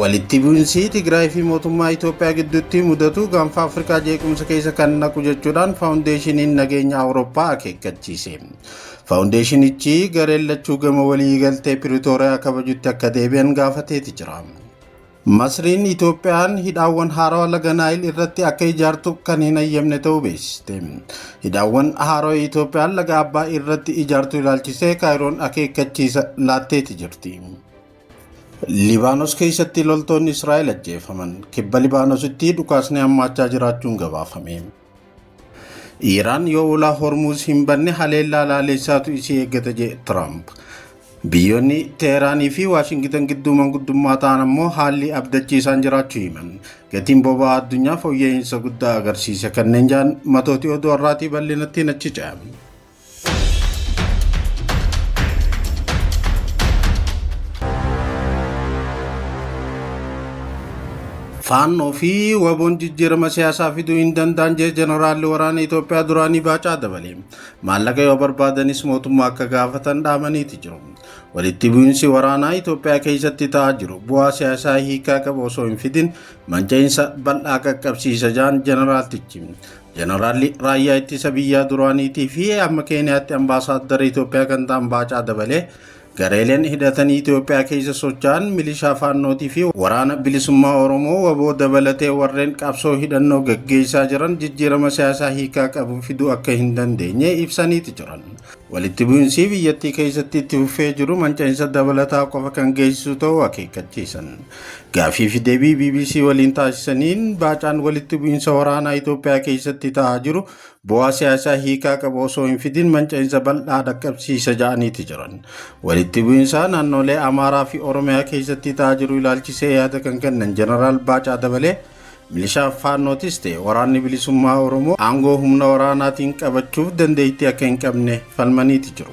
Walitti bu'insii Tigraay fi mootummaa Itoophiyaa gidduutti mudatu gaanfa Afrikaa jeequmsa keessa kan naqu jechuudhaan Faawundeeshiniin Nageenya Awurooppaa akeekkachiise. Faawundeeshinichi gareen lachuu gama walii galtee Piritooriyaa kabajutti akka deebi'an gaafateeti jira. Masriin Itoophiyaan hidhaawwan haarawa laga Naayil irratti akka ijaartu kan hin hayyamne ta'uu beeksiste. Hidhaawwan haarawa Itoophiyaan laga Abbaay irratti ijaartu ilaalchisee Kaayiroon akeekkachiisa laatteeti jirti. Libaanos keessatti loltoonni Israa'el ajjeefaman. Kibba Libaanositti dhukaasni hammaachaa jiraachuun gabaafame. Iraan yoo ulaa Hormuuz hin banne haleellaa laaleessaatu isii eeggata jedhe Tiraamp. Biyyoonni Teeraanii fi Waashingitan gidduu manguddummaa ta'an ammoo haalli abdachiisaan jiraachuu himan. Gatiin boba'aa addunyaa fooyya'insa guddaa agarsiise kanneen ja'an matooti oduu har'aatii bal'inattiin achi ce'a. Faannoo fi waboon jijjiirama siyaasaa fiduu hin danda'an jee jeneraalli waraana Itoophiyaa duraanii baacaa dabale. Maallaqa yoo barbaadanis mootummaa akka gaafatan dhaamaniiti jiru. Walitti bu'iinsi waraanaa Itoophiyaa keessatti ta'aa jiru bu'aa siyaasaa hiikaa qabu osoo hin fidin manca'iinsa bal'aa qaqqabsiisa jaan jeneraaltichi. Jeneraalli raayyaa ittisa biyyaa duraaniitii fi amma Keeniyaatti ambaasaaddara Itoophiyaa kan ta'an Baacaa Dabalee gareeleen hidhatanii Itoophiyaa keessa socho'an milishaa faannootii fi waraana bilisummaa Oromoo waboo dabalatee warreen qabsoo hidhannoo gaggeessaa jiran jijjiirama siyaasaa hiikaa qabu fiduu akka hin dandeenye ibsaniiti jiran. Walitti bu'insii biyyattii keessatti itti fufee jiru mancainsa dabalataa qofa kan geessisuu ta'uu akeekkachiisan. Gaafii fi deebii BBC waliin taasisaniin baacaan walitti bu'insa waraanaa Itoophiyaa keessatti ta'aa jiru bu'aa siyaasaa hiikaa qabu osoo hin fidin mancainsa bal'aa dhaqqabsiisa ja'aniiti jiran. Walitti bu'insaa naannoolee Amaaraa fi Oromiyaa keessatti ta'aa jiru ilaalchisee yaada kan kennan Jeneraal Baacaa Dabalee Milishaan Faannootis ta'e Waraanni Bilisummaa Oromoo aangoo humna waraanaatiin qabachuuf dandeettii akka hin qabne falmaniiti jiru.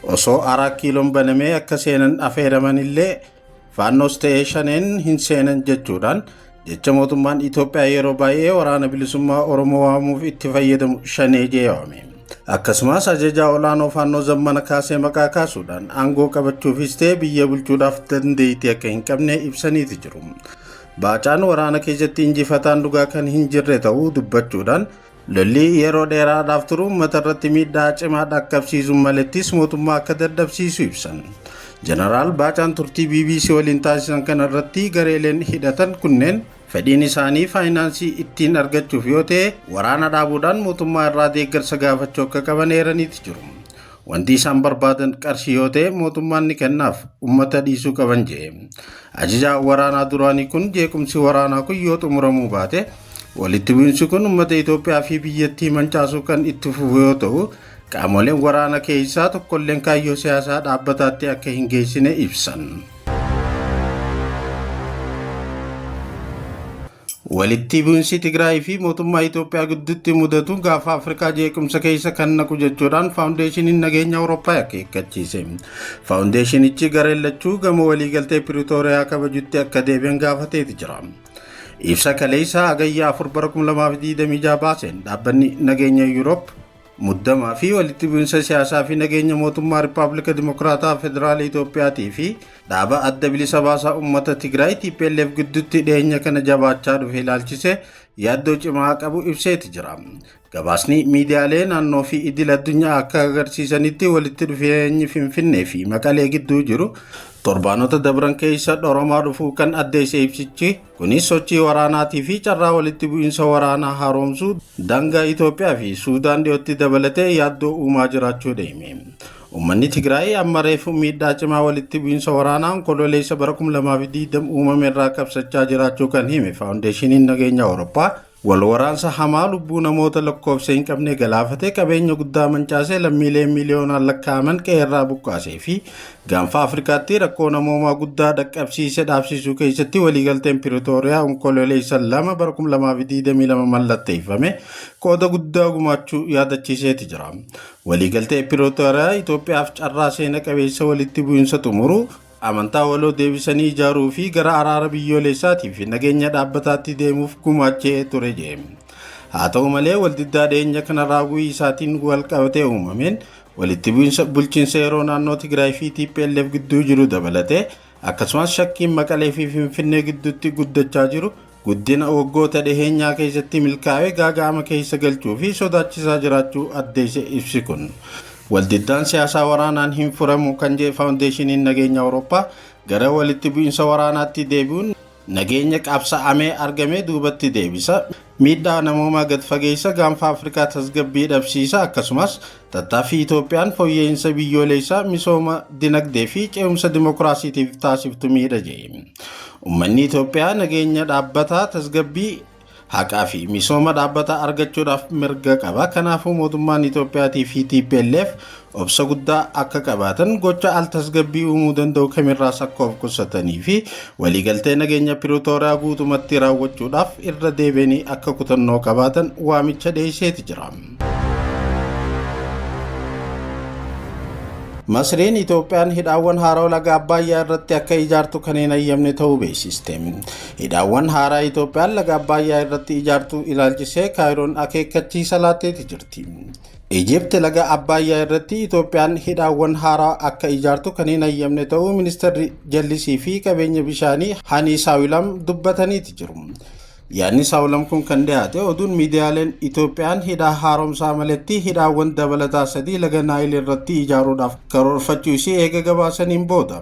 Osoo Araat Kiiloon banamee akka seenan afeeramanillee Faannoos ta'ee Shaneen hin seenan jechuudhaan jecha mootummaan Itoophiyaa yeroo baay'ee Waraana Bilisummaa Oromoo waamuuf itti fayyadamu Shanee jee waame. Akkasumas ajajaa olaanoo Faannoo Zammana Kaasee maqaa kaasuudhaan aangoo qabachuufis ta'e biyya bulchuudhaaf dandeettii akka hin qabne ibsaniiti jiru. Baacaan waraana keessatti injifataan dhugaa kan hin jirre ta'uu dubbachuudhaan lolli yeroo dheeraadhaaf turu uummata irratti miidhaa cimaa dhaqqabsiisuun malettis mootummaa akka dadhabsiisu ibsan. Jeneraal Baacaan turtii BBC waliin taasisan kana irratti gareeleen hidhatan kunneen fedhiin isaanii faayinaansii ittiin argachuuf yoo ta'e waraana dhaabuudhaan mootummaa irraa deeggarsa gaafachuu akka qaban eeraniiti jiru. Wanti isaan barbaadan qarshii yoo ta'e mootummaan ni kennaaf, ummata dhiisuu qaban jedhe. Ajajaa waraanaa duraanii kun jeequmsi waraanaa kun yoo xumuramuu baate walitti bu'insi kun ummata Itoophiyaa fi biyyattii mancaasuu kan itti fufu yoo ta'u qaamoleen waraana keessaa tokkolleen kaayyoo siyaasaa dhaabbataatti akka hin geessine ibsan. Walitti bu'insi Tigraay fi mootummaa Itoophiyaa gidduutti mudatu gaafa Afrikaa jeequmsa keessa kan naqu jechuudhaan Faawundeeshiniin Nageenya Awurooppaa akeekkachiise. Faawundeeshinichi gareen lachuu gama waliigaltee Piriitooriyaa kabajutti akka deebi'an gaafateeti jira. Ibsa kaleessa Hagayya 4 bara 2026 baaseen dhaabbanni nageenya Yuuroop Muddamaa fi walitti bu'insa siyaasaa fi nageenya mootummaa Rippaablika Dimokiraataa Federaala Itoophiyaatii fi dhaaba adda bilisa baasaa uummata Tigraay TPLF gidduutti dhiyeenya kana jabaachaa dhufe ilaalchisee yaaddoo cimaa qabu ibseeti jira. Gabaasni miidiyaalee naannoo fi idil addunyaa akka agarsiisanitti walitti dhufeenyi Finfinnee fi Maqalee gidduu jiru torbaanota dabran keessa dhoromaa dhufuu kan addeesse ibsichi Kunis sochii waraanaatii fi carraa walitti bu'iinsa waraanaa haaromsuu daangaa Itoophiyaa fi Suudaan dhiyootti dabalatee yaaddoo uumaa jiraachuudha hime. Uummanni Tigraay amma reefu miidhaa cimaa walitti bu'iinsa waraanaa Onkololeessa bara 2020 uumame irraa qabsachaa jiraachuu kan hime Faawundeeshiniin Nageenya Awurooppaa Wal waraansa hamaa lubbuu namoota lakkoofsa hin qabne galaafatee qabeenya guddaa mancaasee lammiilee miiliyoonaan lakkaa'aman qe'eerraa buqqaasee fi gaanfa Afrikaatti rakkoo namoomaa guddaa dhaqqabsiise dhaabsiisuu keessatti waliigalteen Piritooriyaa Onkololeessa 2 bara 2022 mallatteeffame qooda guddaa gumaachuu yaadachiiseeti jira. Waliigaltee Piritooriyaa Itoophiyaaf carraa seena qabeessa walitti bu'insa xumuruu, amantaa waloo deebisanii ijaaruu fi gara araara biyyooleessaatii fi nageenya dhaabbataatti deemuuf gumaachee ture jee. Haa ta'u malee waldiddaa dhiyeenya kana raaguu isaatiin wal qabatee uumameen walitti bu'insa bulchiinsa yeroo naannoo Tigraay fi TPLF gidduu jiru dabalatee akkasumas shakkiin Maqalee fi Finfinnee gidduutti guddachaa jiru guddina waggoota dhiheenyaa keessatti milkaa'ee gaaga'ama keessa galchuu fi sodaachisaa jiraachuu addeesse ibsi kun. Waldiddaan siyaasaa waraanaan hin furamu kan jedhe Faawundeeshiniin Nageenya Awurooppaa gara walitti bu'insa waraanaatti deebi'uun nageenya qabsa'amee argame duubatti deebisa, miidhaa namoomaa gad fageessa, gaanfa Afrikaa tasgabbii dhabsiisa akkasumas Tattaaffii Itoophiyaan fooyya'iinsa biyyooleessaa, misooma dinagdee fi ce'umsa dimokiraasiitiif taasiftu miidha jedhe. Ummanni Itoophiyaa nageenya dhaabbataa, tasgabbii, haqaa fi misooma dhaabbataa argachuudhaaf mirga qaba. Kanaafuu mootummaan Itoophiyaatii fi TPLF obsa guddaa akka qabaatan, gocha al-tasgabbii uumuu danda'u kamirraas akka of qusatanii fi waliigaltee nageenya Piritooriyaa guutumatti raawwachuudhaaf irra deebi'anii akka kutannoo qabaatan waamicha dhiyeesseeti jira. Masriin Itoophiyaan hidhaawwan haaraa laga Abbaayyaa irratti akka ijaartu kan hin hayyamne ta'uu beeksiste. Hidhaawwan haaraa Itoophiyaan laga Abbaayyaa irratti ijaartu ilaalchisee Kaayiroon akeekkachiisa laatteeti jirti. Ijipti laga Abbaayyaa irratti Itoophiyaan hidhaawwan haaraa akka ijaartu kan hin hayyamne ta'uu ministeerri jallisii fi qabeenya bishaanii Hanii Saawilam dubbataniiti jiru. Yaadni Saawulam kun kan dhiyaate oduun miidiyaaleen Itoophiyaan hidhaa haaromsaa maletti hidhaawwan dabalataa sadii laga Naayil irratti ijaaruudhaaf karoorfachuu isii eega gabaasaniin booda.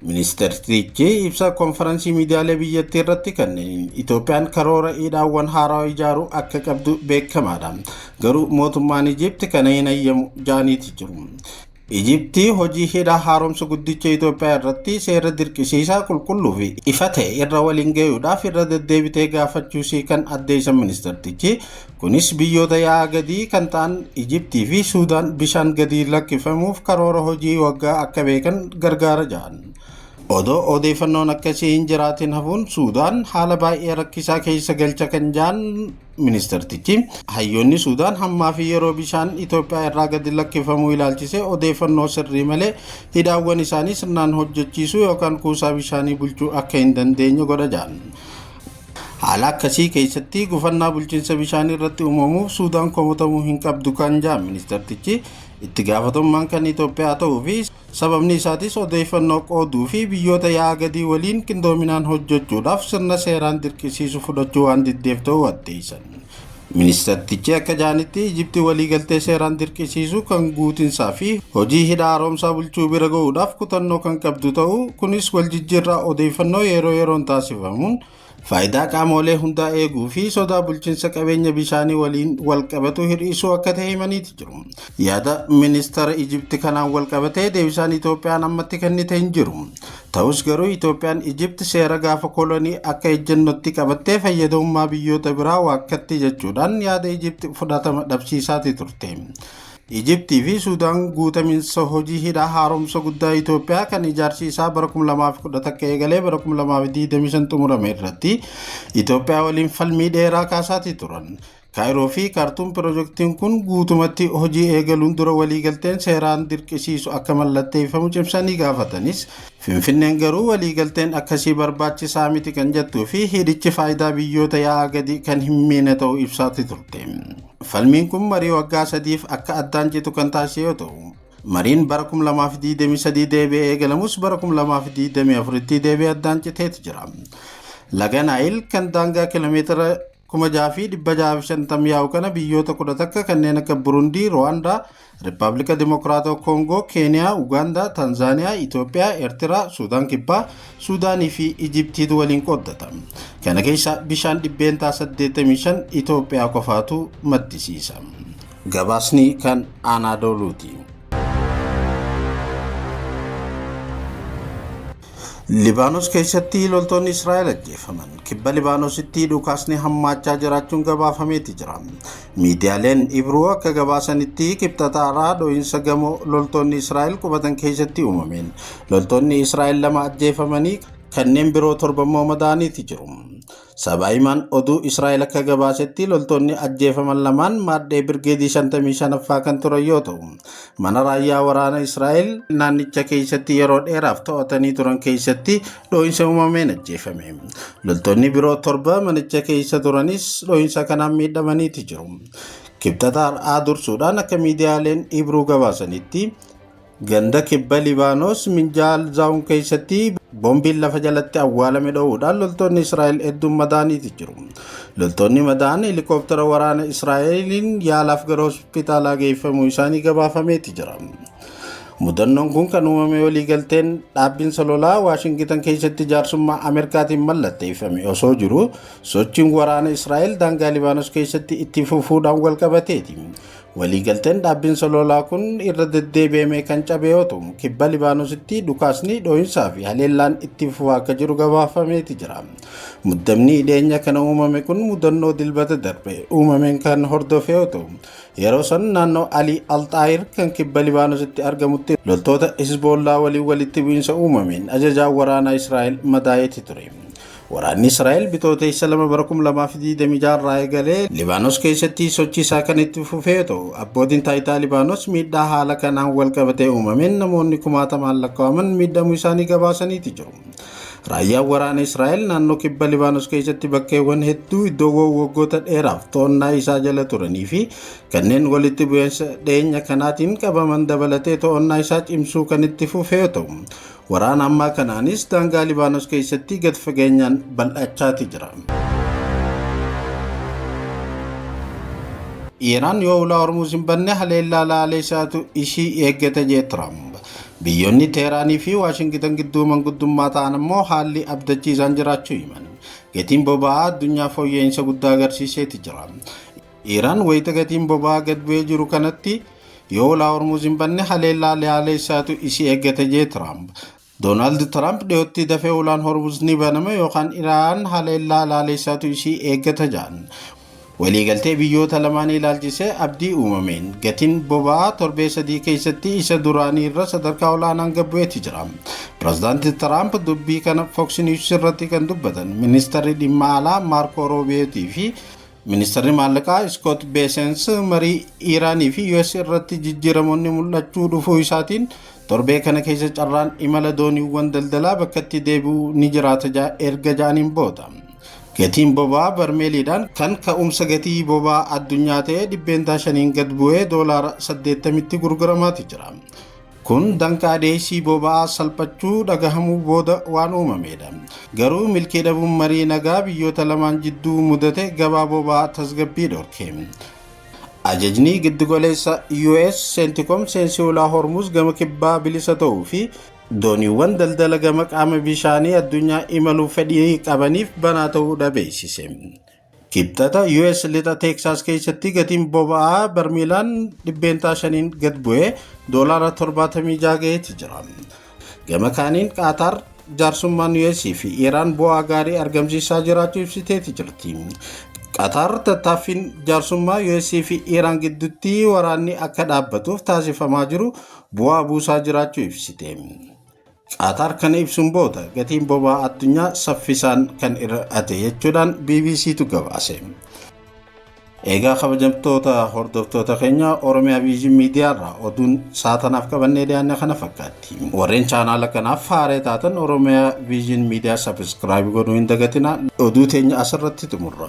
Ministeertichi ibsa konfaransii miidiyaalee biyyattii irratti kennaniin Itoophiyaan karoora hidhaawwan haaraa ijaaruu akka qabdu beekamaadha. Garuu mootummaan Ijiipti kana hin hayyamu jaaniiti jiru. Ijipti hojii hidha haaromsa guddicha Itoophiyaa irratti seera dirqisiisaa qulqulluu fi ifa ta'e irra waliin gayuudhaaf irra deddeebitee gaafachuusii kan addeessan ministartichi, kunis biyyoota yaa'a gadii kan ta'an Ijiptii fi Suudaan bishaan gadii lakkifamuuf karoora hojii waggaa akka beekan gargaara jedhan. Odoo odeeffannoon akkasii hin jiraatin hafuun Suudaan haala baay'ee rakkisaa keessa galcha kan jedhan Ministartichi hayyoonni Suudaan hammaa fi yeroo bishaan Itoophiyaa irraa gadi lakkifamuu ilaalchisee odeeffannoo sirrii malee hidhaawwan isaanii sirnaan hojjechiisuu yookaan kuusaa bishaanii bulchuu akka hin dandeenye godha jedhan. Haala akkasii keessatti gufannaa bulchiinsa bishaanii irratti uumamuuf Suudaan komatamuu hin qabdu kan jedhan ministartichi itti gaafatamummaan kan Itoophiyaa ta'uu fi Sababni isaatis odeeffannoo qooduu fi biyyoota yaa'a gadii waliin qindoominaan hojjechuudhaaf sirna seeraan dirqisiisu fudhachuu waan diddeef ta'uu addeessan. Ministartichi akka jedhanitti Ijipti waliigaltee seeraan dirqisiisuu kan guutinsaa fi hojii hidha haaromsaa bulchuu bira ga'uudhaaf kutannoo kan qabdu ta'uu, kunis waljijjiirraa odeeffannoo yeroo yeroon taasifamuun faayidaa qaamoolee hundaa eeguu fi sodaa bulchinsa qabeenya bishaanii waliin walqabatu hir'isuu akka ta'e himaniiti jiru. Yaada ministara Ijipti kanaan walqabatee deebisaan Itoophiyaan ammatti kennite hin jiru. Ta'us garuu Itoophiyaan Ijipti seera gaafa kolonii akka ejjennotti qabattee fayyadamummaa biyyoota biraa waakkatti jechuudhaan yaada Ijipti fudhatama dhabsiisaati turte. Ijiptii fi Suudaan guutaminsa hojii hidha haaromsa guddaa Itoophiyaa kan ijaarsi isaa bara 2011 eegalee bara 2025 xumurame irratti Itoophiyaa waliin falmii dheeraa kaasaatii turan. Kaayiroo fi Kaartuum pirojektiin kun guutumatti hojii eegaluun dura waliigalteen seeraan dirqisiisu akka mallatteeffamu cimsanii gaafatanis Finfinneen garuu waliigalteen akkasii barbaachisaa miti kan jettuu fi hidhichi faayidaa biyyoota yaa'aa gadi kan hin miine ta'uu ibsaati turte. Falmiin kun marii waggaa sadiif akka addaan citu kan taasise yoo ta'u, mariin bara 2023 deebi'ee eegalamus bara 2024tti deebi'ee addaan citeeti jira. Laga Naayil kan daangaa kiiloomeetira 6,650 yaa'u kana biyyoota 10 takka kanneen akka Burundii, Ruwaandaa, Rippaablika Dimokiraatawaa Koongoo, Keeniyaa, Ugaandaa, Tanzaaniyaa, Itoophiyaa, Ertiraa, Suudaan Kibbaa, Suudaanii fi Ijiptiitu waliin qooddata. Kana keessaa bishaan dhibbeentaa 85 Itoophiyaa qofaatu maddisiisa. Gabaasni kan Anaadooluuti. Libaanos keessatti loltoonni Israa'el ajjeefaman. Kibba Libaanositti dhukaasni hammaachaa jiraachuun gabaafameeti jira. Miidiyaaleen Ibruu akka gabaasanitti Kibxata har'aa dho'iinsa gamoo loltoonni Israa'el qubatan keessatti uumameen loltoonni Israa'el lama ajjeefamanii kanneen biroo torba immoo madaa'aniiti jiru. Sabaa himaan oduu Israa'el akka gabaasetti loltoonni ajjeefaman lamaan maadhee birgeedii 55ffaa kan turan yoo ta'u, mana raayyaa waraana Israa'el naannicha keessatti yeroo dheeraaf to'atanii turan keessatti dhoo'insa uumameen ajjeefame. Loltoonni biroo torba manicha keessa turanis dhoo'insa kanaan miidhamaniiti jiru. Kibxata har'aa dursuudhaan akka miidiyaaleen Ibruu gabaasanitti Ganda kibba Libaanos Minjaal Zaawun keessatti boombiin lafa jalatti awwaalame dho'uudhaan loltoonni Israa'el hedduun madaaniiti jiru. Loltoonni madaan helikooftara waraana Israa'eliin yaalaaf gara hospitaalaa geeffamuu isaanii gabaafameeti jira. Mudannoon kun kan uumame waliigalteen dhaabbinsa lolaa Waashingitan keessatti jaarsummaa Ameerikaatiin mallatteeffame osoo jiru sochiin waraana Israa'el daangaa Libaanos keessatti itti fufuudhaan walqabateeti. Waliigalteen dhaabbiin soloolaa kun irra deddeebi'amee kan cabe yoo ta'u, kibba Libaanositti dhukaasni dhoohinsaa fi haleellaan itti fufaa akka jiru gabaafameeti jira. Muddamni dhiyeenya kana uumame kun mudannoo dilbata darbe uumameen kan hordofe yoo ta'u, yeroo san naannoo Alii Alxaayir kan kibba Libaanositti argamutti loltoota Hizboollaa waliin walitti bu'iinsa uumameen ajajaan waraanaa Israa'el madaa'eeti ture. Waraanni Israa'el Bitootessa 2 bara 2026 irraa eegalee Libaanos keessatti sochii isaa kan itti fufee yoo ta'u, abbootiin taayitaa Libaanos miidhaa haala kanaan wal qabatee uumameen namoonni kumaatamaan lakkaa'aman miidhamuu isaanii gabaasaniiti jiru. Raayyaan waraana Israa'el naannoo kibba Libaanos keessatti bakkeewwan hedduu iddoowwan waggoota dheeraaf to'annaa isaa jala turanii fi kanneen walitti bu'iinsa dhiyeenya kanaatiin qabaman dabalatee to'annaa isaa cimsuu kan itti fufee yoo ta'u, Waraana ammaa kanaanis daangaa Libaanos keessatti gad fageenyaan bal'achaati jira. Iraan yoo ulaa Hormuuz hin banne haleellaa laalee isaatu ishii eeggata jee Tiraamp. Biyyoonni Teeraanii fi Waashingitan gidduu manguddummaa ta'an ammoo haalli abdachiisaan jiraachuu himan. Gatiin boba'aa addunyaa fooyya'insa guddaa agarsiiseeti jira. Iiraan wayita gatiin boba'aa gad bu'ee jiru kanatti yoo ulaa Hormuuz hin banne haleellaa leaaleessaatu isii eeggata jee Tiraamp. Doonaald Tiraamp dhiyootti dafee ulaan Hormuuz ni banama yookaan Iraan haleellaa leaaleessaatu isii eeggata jaan. Waliigaltee biyyoota lamaanii ilaalchisee abdii uumameen gatiin boba'aa torbee sadii keessatti isa duraanii irra sadarkaa olaanaan gad bu'eeti jira. Pirezidaanti Tiraamp dubbii kana Fox News irratti kan dubbatan ministarri dhimma alaa Maarkoo Roobiyeetii fi Ministarri Maallaqaa Iskoot Beesens marii Iiraanii fi US irratti jijjiiramoonni mul'achuu dhufuu isaatiin torbee kana keessa carraan imala dooniiwwan daldalaa bakkatti deebi'uu ni jiraata ja- erga ja'aniin booda. Gatiin boba'aa barmeeliidhaan kan ka'umsa gatii boba'aa addunyaa ta'e dhibbeentaa shaniin gad bu'ee doolaara 80tti gurguramaati jira. Kun danqaa dhiyeessii boba'aa salphachuu dhagahamuu booda waan uumameedha. Garuu milkii dhabuun marii nagaa biyyoota lamaan jidduu mudate gabaa boba'aa tasgabbii dhorke. Ajajni giddugaleessa US Centcom seensi ulaa Hormuz gama kibbaa bilisa ta'uu fi dooniiwwan daldala gama qaama bishaanii addunyaa imaluuf fedhii qabaniif banaa ta'uudha beeksise. Kibxata US lixa Teeksaas keessatti gatiin boba'aa barmiilaan dhibbeentaa shaniin gad bu'ee doolaara 76 gaheeti jira. Gama kaaniin Qaataar jaarsummaan US fi Iraan bu'aa gaarii argamsiisaa jiraachuu ibsiteeti jirti. Qaataar tattaaffiin jaarsummaa US fi Iraan gidduutti waraanni akka dhaabbatuuf taasifamaa jiru bu'aa buusaa jiraachuu ibsite. Qaataar kana ibsuun booda gatiin boba'aa addunyaa saffisaan kan hir'ate jechuudhaan BBCtu gabaase. Eegaa kabajamtoota hordoftoota keenya Oromiyaa Viizhin Miidiyaarraa oduun saatanaaf qabannee dhiyaanne kana fakkaatti. Warreen chaanaala kanaaf haaree taatan Oromiyaa Viizhin Miidiyaa sabiskiraayib godhuu hin dagatina. Oduu teenya asirratti xumurra.